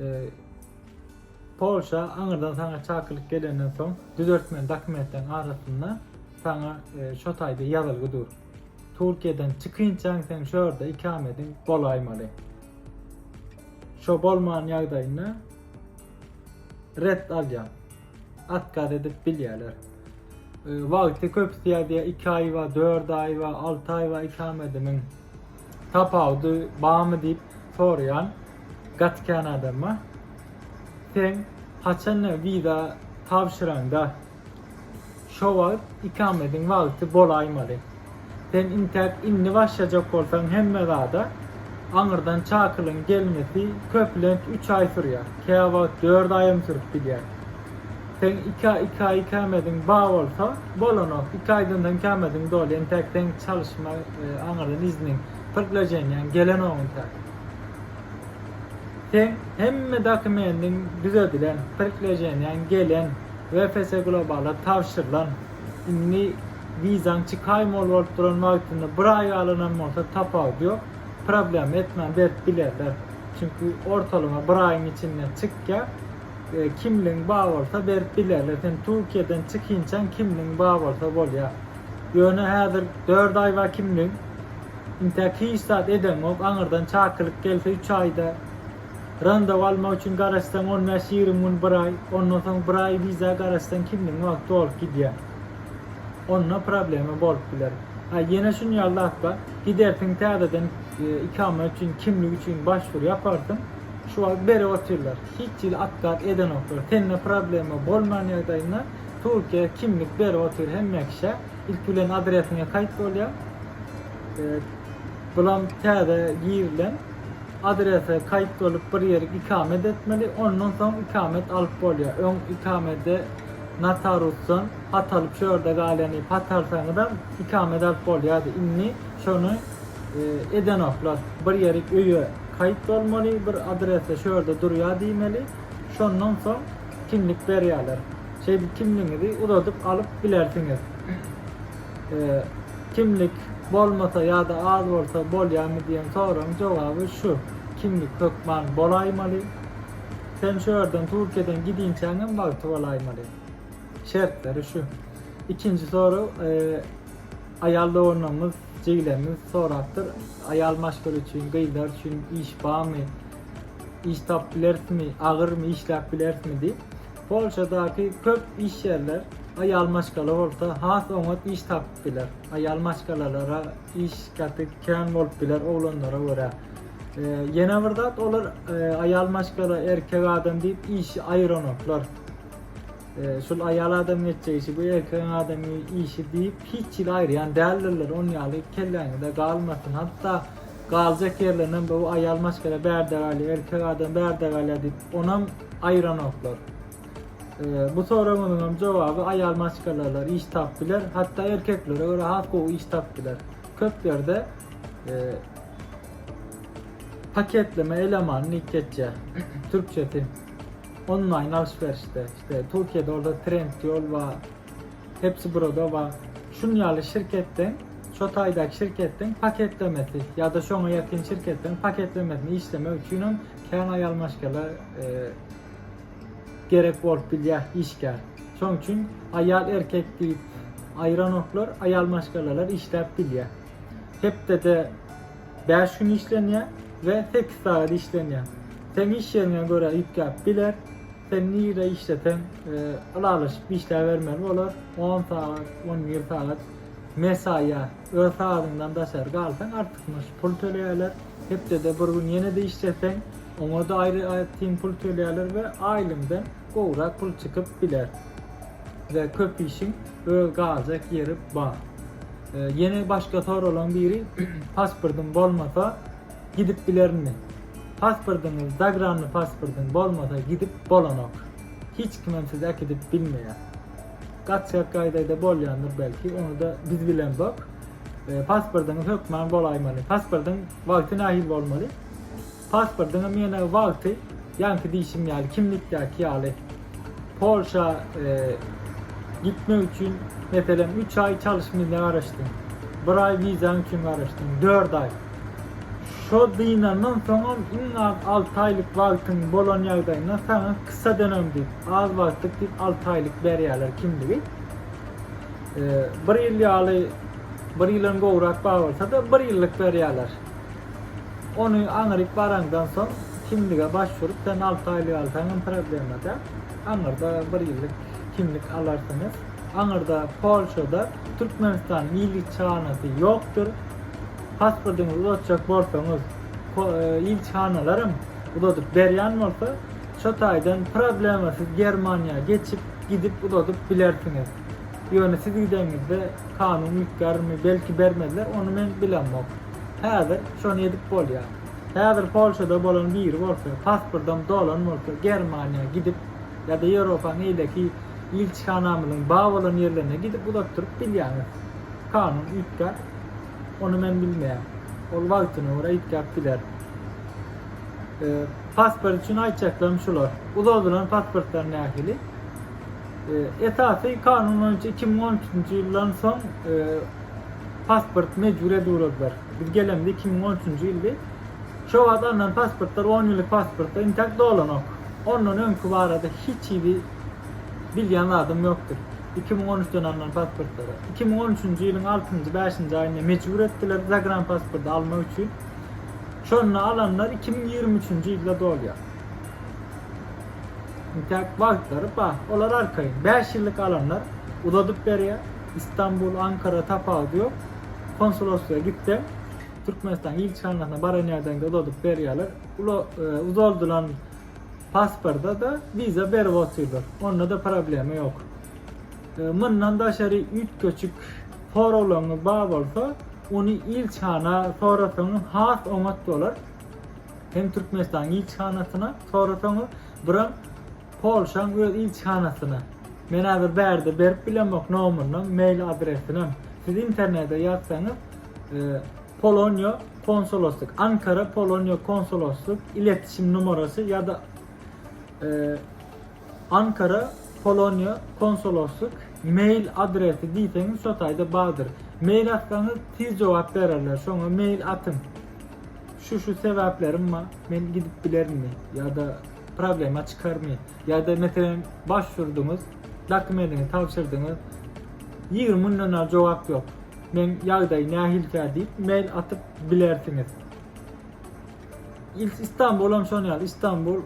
E, Polşa aňyrdan sana çakylyk gelenden soň düzeltmeli dokumentleriň arasynda sana e, şu taýda ýazylgy dur. Türkiýeden çykynçaň sen şu ýerde ikamediň bolaýmaly. Şo bolman ýagdaýynda red alýan. Atkaz edip bilýärler. E, wagty köpüsi ýazýar 2 aý we 4 aý we 6 aý we ikametiniň tapawudy barmy diýip soraýan gaty kän adam bar. Sen haçan wiza tabşyraňda şo wagt ikametiň wagty bolaýmaly. Sen intäk indi başlajak bolsaň hemme zada, aňyrdan çakylyň gelmesi köplenç üç aý sürýär, käwagt dört aýam sürüp gidýär. Seň iki aý, iki aý kämeziň bar bolsa, bolanok, iki aýdan soň kämeziň doly, intäk seň çalyşma aňyrdan izniň, prglaženýaň gelenok intäk. Seň hemme dokumendiň düzedilen, prglaženýaň gelen, WFS Globala tabşyrylan. Indi wizaň çykaýmaly bolup duran wagtynda bir aý galanam bolsa tapawudy ýok. Problema etmän berip bilerler. Çünki ortalama bir aýyň içinde çykýar. Kimligiň bar bolsa berip bilerler. Sen Türkiýeden çykinçaň kimligiň bar bolsa bolýar. Ýöne häzir dört aý bar kimligiň. Intäk hiç zat edeňok. Aňyrdan çakylyk gelse üç aýda Randaw almak üçin garaşsaň on bäş ýigrimi gün bir aý, ondan soň bir aý wiza garaşsaň kimligiň wagty dolup gidýär. Onda problema bolup biler. Ha ýene şun ýaly zat bar. Gidersiň täzeden ikama üçin kimlik üçin başwur ýaparsyň. Şu wagt berip otyrlar. Hiç hili otkaz edenoklar. Sende problema bolman ýagdaýynda Türkiýä kimlik berip otyr hemme kişä. Ilki bilen adresiňe kaýt bolýar. Bulam täze girilen. Adrese kaýt bolup bir ýeri ikamet etmeli, ondan soň ikamet alyp bolýar. Öň ikamede notarusdan hat alyp şu ýerde galýany hat alsaňyzam ikamet alyp bolýardy. Indi şony edenoklar. Bir ýeri öýe kaýt bolmaly, bir adrese şu ýerde durýar diýmeli, şondan soň kimlik berýärler. Şeýdip kimligiňizi uzadyp alyp bilersiňiz. Kimlik bolmasa ýa-da az bolsa bolýarmy diýen soragyň jogaby şu, kimlik hökman bolaýmaly. Sen şu ýerden Türkiýeden gidinçäň hem wagty bolaýmaly. Şertleri şu. Ikinji sorag aýal doganlarymyz, jigilerimiz sorapdyr. Aýal maşgala üçin, gyzlar üçin iş barmy? iş tapyp bilerismi, agyrmy işläp bilerismi diýip, Polşadaky köp iş ýerler aýal maşgala bolsa has oňat iş tapyp biler. Aýal maşgalalara iş gaty kän bolup biler oglanlara görä. E, ýene bir zat olar e, aýal maşgala, erkek adam diýip işi aýyranoklar. E, şul aýal adam geçjek işi, bu erkek adam işi diýip hiç ýyl aýyrýan däldirler. Onuň ýaly kelläňizde galmasyn. Hatda Galjak ýerlerinden bu aýal maşgala bärde galýar, erkek adam bärde galýar diýip, onam aýyranoklar. Bu soragymyzyň hem jogaby aýal maşgalalar iş tap biler, hatda erkeklere görä has gowy iş tap biler. Köp ýerde paketleme eleman diýip geçýär türkçesi. Onlaýn alş-berişde, işte Türkiýede orada trend ýol bar. Hepsi burada bar. Şun ýaly şirketden, şo taýdaky şirketden paketlemesi ýa-da şoňa ýakyn şirketden paketlemesini işlemek üçinem kän aýal maşgala e, gerek bolup bilýär işgär. Şoň üçin aýal erkek diýip aýranoklar, aýal maşgalalar işläp bilýär. Hepdede 5 gün işlenýär we 8 sagat işlenýär. Seň iş ýeriňe görä ýükläp biler. Sen nirede işleseň ylalaşyp işläbermeli bolar. 10 sagat, 11 sagat mesaýa öz sagadyňdan daşary galsaň artykmaç pul töleýärler. Hepdede bir gün ýene-de işleseň, oňa-da aýratyn pul töleýärler we aýlyňdan gowrak pul çykyp biler. We köp işiň öz galjak ýeri bar. Ýene başga soralan biri pasportyň bolmasa Gidip bilerinmi? Paspordyňyz, zagranny paspordyň bolmasa gidip bolanok. Hiç kimem sizi äkidip bilmeýär. Gaçjak gaýdaýda bolýandyr belki, ony-da biz bilemzok. Paspordyňyz hökman bolaýmaly. Paspordyň wagty nähili bolmaly? Paspordyňa menä wagty, ýaňky diýşim ýaly, kimlikdäki ýaly. Polşa gitmek üçin meselem 3 aý çalyş milne garaşdym. 1 aý wizaň üçin garaşdym. 4 aý. Şo dynandan soňam iň az 6 aýlyk wagtyň bolan ýagdaýynda saňa kysa dönem diýip, az wagtlyk diýip 6 aýlyk berýärler kimligi. E, bir ýyl ýaly bir ýyldan gowrak bar bolsa-da, bir ýyllyk berýärler. Ony aňryk baraňdan soň kimlige başvurup sen alty aýlyk alsaňam problema däl. Aňyrda bir ýyllyk kimlik alarsyňyz. Aňyrda Polşada Türkmenistanyň ilçihanasy ýokdur. Pasportyňyzy uzatjak bolsaňyz ilçihanalaram uzadyp berýän bolsa şo taýdan problema siz Germaniýa geçip gidip uzadyp bilersiňiz. Ýöne siz gideňizde kanun üýtgärmi belki bermezler ony men bilemok. Häzir şony edip bolýar. Häzir Polşada bolan biri bolsa, pasportam dolan bolsa, Germaniýa gidip ýa-da Ýewropaň beýleki ilçihanamyzyň bar bolan ýerlerine gidip uzatdyryp bilýäňiz. Kanun üýtgär. Ony men bilmeýän. Ol wagtyna görä üýtgäp biler. Pasport üçin aýtjaklarym şular. Uzadylan pasportlar nähili? Esasy kanun boýunça iki müň on üçünji ýyldan soň pasporty mejbury edüwrediler. Biz gelemde iki müň on üçünji ýyldy. Şo wagt alnan pasportlar on ýyllyk pasportlar intäk dolanok. Ondan öňki barada hiç hili bilýän zadym ýokdy. Iki müň on üçden alnan pasportlara. Iki müň on üçünji ýylyň altynjy, bäşinji aýynda mejbur etdiler zagranpasporty almak üçin. Şonda alanlar iki müň ýigrimi üçünji ýylda dolýar. Intäk wagtlary bar. Olar arkaýyn. Bäş ýyllyk alanlar uzadyp berýär. Istanbul, Ankara tapawudy ýok. Konsuloslyga gitse, Türkmenistan ilçihanasyna baran ýerden-de uzadyp berýärler. Ula, uzaldylan pasporta-da wiza berip otyrlar. Onda-da problema ýok. Mundan daşary üýtgeşik soraglaryňyz bar bolsa, ony ilçihana sorasaňyz has oňat bolar. Hem Türkmenistanyň ilçihanasyna sorasaňyz, biram Polşaň öz ilçihanasyna. Men hazir bärde berip bilemok nomurynyň, mail adresinem. Siz internede ýazsaňyz Polonýa konsoloslyk, Ankara Polonýa konsoloslyk iletişim numarasy ýa-da Ankara Polonýa konsoloslyk mail adresi diýseňiz şo taýda bardyr. Mail atsaňyz tiz jogap bererler. Şoňa mail atyň. Şu şu sebäplerim bar. Men gidip bilerinmi? Ýa-da Problema çykarmy? Ýa-da meselem başvurdyňyz, dokumendiňizi tabşyrdyňyz, ýigrimi günden bar jogap ýok. Meň ýagdaý nähilikä diýip mail atyp bilersiňiz. Istanbul hem şonuň ýaly, Istanbul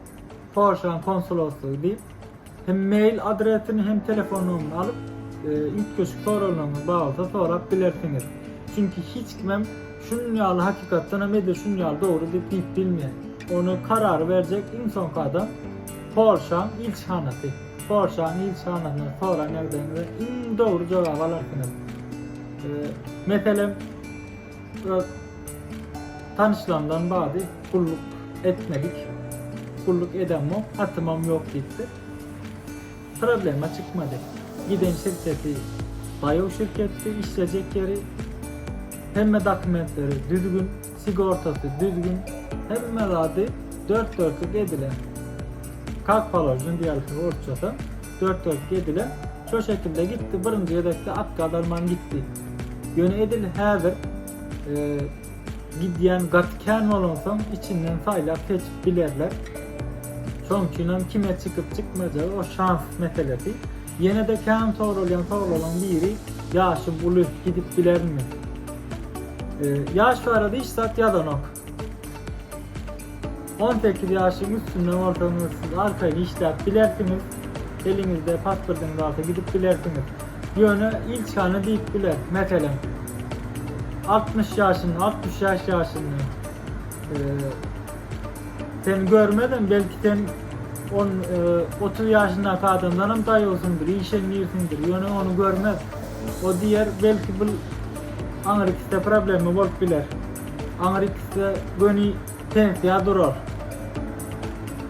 Polşanyň konsuloslygy diýip Hem mail adresini hem telefon nomerini alyp üýtgeşik soraglaryňyz bar bolsa sorap bilersiňiz. Çünki hiç kimem şunuň ýaly hakykatdan hem edil şunuň ýaly dogry diýip diýip bilmeýär. Ony karary berjek iň soňky adam Polşaň ilçihanasy. Polşaň ilçihanasyndan soran ýagdaýyňyzda iň dogry jogaby alarsyňyz. Meselem Öz tanyşlarymdan bady gulluk etmedik. Gulluk edemok, atymam ýok diýipdir. Problema çykmady. Giden şirketi daýaw şirketdi, işlejek ýeri, hemme dokumentleri düzgün, sigortasy düzgün, hemme zady dört-dörtlük edilen. Kak položen diýerler orsçada. Dört gezek gediler şo şekilde gitdi birinji gezekde at gazarman gitdi. Ýöne edil häzir e, gidýän gaty kän bolansoň içinden saýlap seçip bilerler. Şoň üçin hem kime çykyp çykmajagy o şans meselesi. Ýene-de kän soralýan soraglaryň biri ýaşy uly gidip bilermi? E, ýaş barada hiç zat ýazanok. On sekiz ýaşyň üstünde bolsaňyz, siz arkaýyn işläp bilersiňiz. Eliňizde pasportyňyz barsa gidip bilersiňiz. Ýöne ilçihana diýip biler, meselem, altmyş ýaşyny, altmyş bäş ýaşyny e, seni görmezem, belki sen on e, otuz ýaşyndaky adamdan hem daýawsyňdyr, işeňňirsiňdir, ýöne ony görmez. O diýer, belki bu aňyrykda problema bolup biler. Aňyrykysy göni pensiýa durar.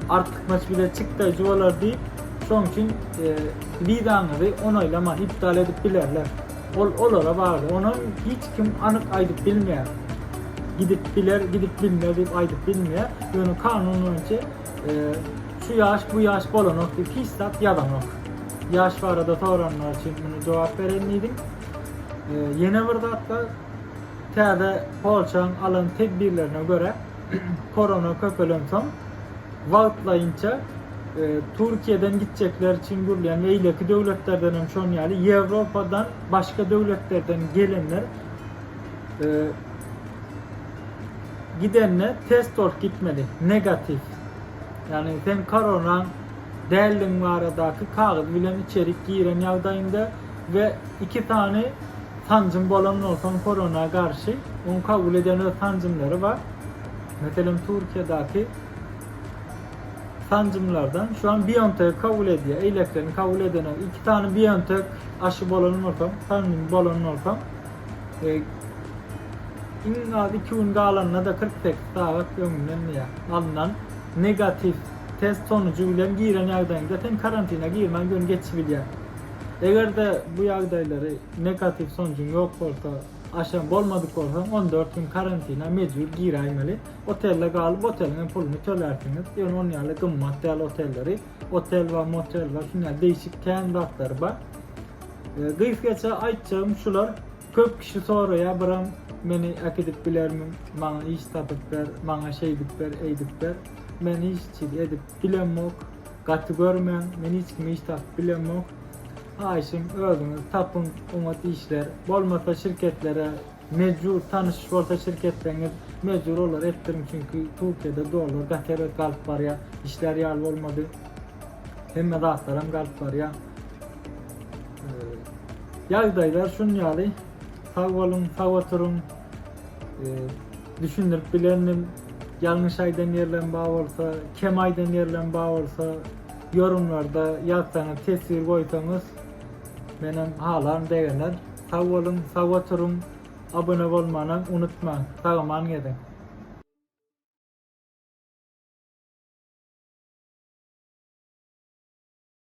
Artykmaç bile çykdaýjy bolar diýip, şoň üçin e, wizaňyzy onaýlaman iptal edip bilerler. Ol olara bagly. Ony hiç kim anyk aýdyp bilmeýär. Gidip biler, gidip bilmez diýip aýdyp bilmeýär. Ýöne kanun boýunça e, şu ýaş, bu ýaş bolanok diýip hiç zat ýazanok. Ýaş barada soranlar üçin muny jogap beren diýdim. E, ýene bir zat bar. Täze polçaň alan tedbirlerine görä, korona köpelensoň, wagtlaýynça Türkiýeden gitjekler üçin gurulýan, beýleki döwletlerden hem şonuň ýaly, Ýewropadan başga döwletlerden gelenler gidende test bolup gitmeli, negatiw. Ýagny sen koronaň däldigiň baradaky kagyz bilen içerik giren ýagdaýyňda, we iki sany sanjym bolandan soň korona garşy oň kabul edýän öz sanjymlary bar. Meselem Türkiýedäki sanjymlardan şu an BioNTech kabul edýär. Eýleklerini kabul edene iki sany BioNTech aşy bolan bolsa, sanjym bolan bolsa, e, iň az 2 gün galanda da 48 sagat öňünden diýär. Alnan negatiw test sonucu bilen giren ýagdaýyňda sen karantine girmän göni geçip bilýär. Eger-de bu ýagdaýlary negatiw sonujuň ýok bolsa, aşa bolmadyk bolsaň, on dört gün karantina mejbur giräýmeli. Otelde galyp, oteliň hem puluny tölärsiňiz. Ýöne onuň ýaly gymmat däl otelleri. Otel we motel we şunuň ýaly degişik kän zatlary bar. Gysgaça aýtjagym şular. Köp kişi soraýar, Byram, meni äkidip bilermiň? Maňa iş tapyp ber, maňa şeýdip ber, eýdip ber. Men hiç çyz edip bilemok. Gaty görmäň men hiç kimi hiç tapyp bilemok haýyşym özüňiz tapyň oňat işler bolmasa şirketlere mejbur tanyş bolsa şirketleriňiz mejbur olara etdiriň çünki Türkiýede dollar gaty erbet galyp barýar işler ýaly bolmady hemme zatlaram galyp barýar ýagdaýlar şunýaly sag boluň sag oturyň. düşündirip bilendim. Ýalňyş aýdan ýerlerim bar bolsa, kem aýdan ýerlerim bar bolsa, ýorumlarda ýazsaňyz, teswir goýsaňyz, menem halam begener. Sag boluň, sag oturyň. Abone bolmana unutmaň. Sagaman geziň.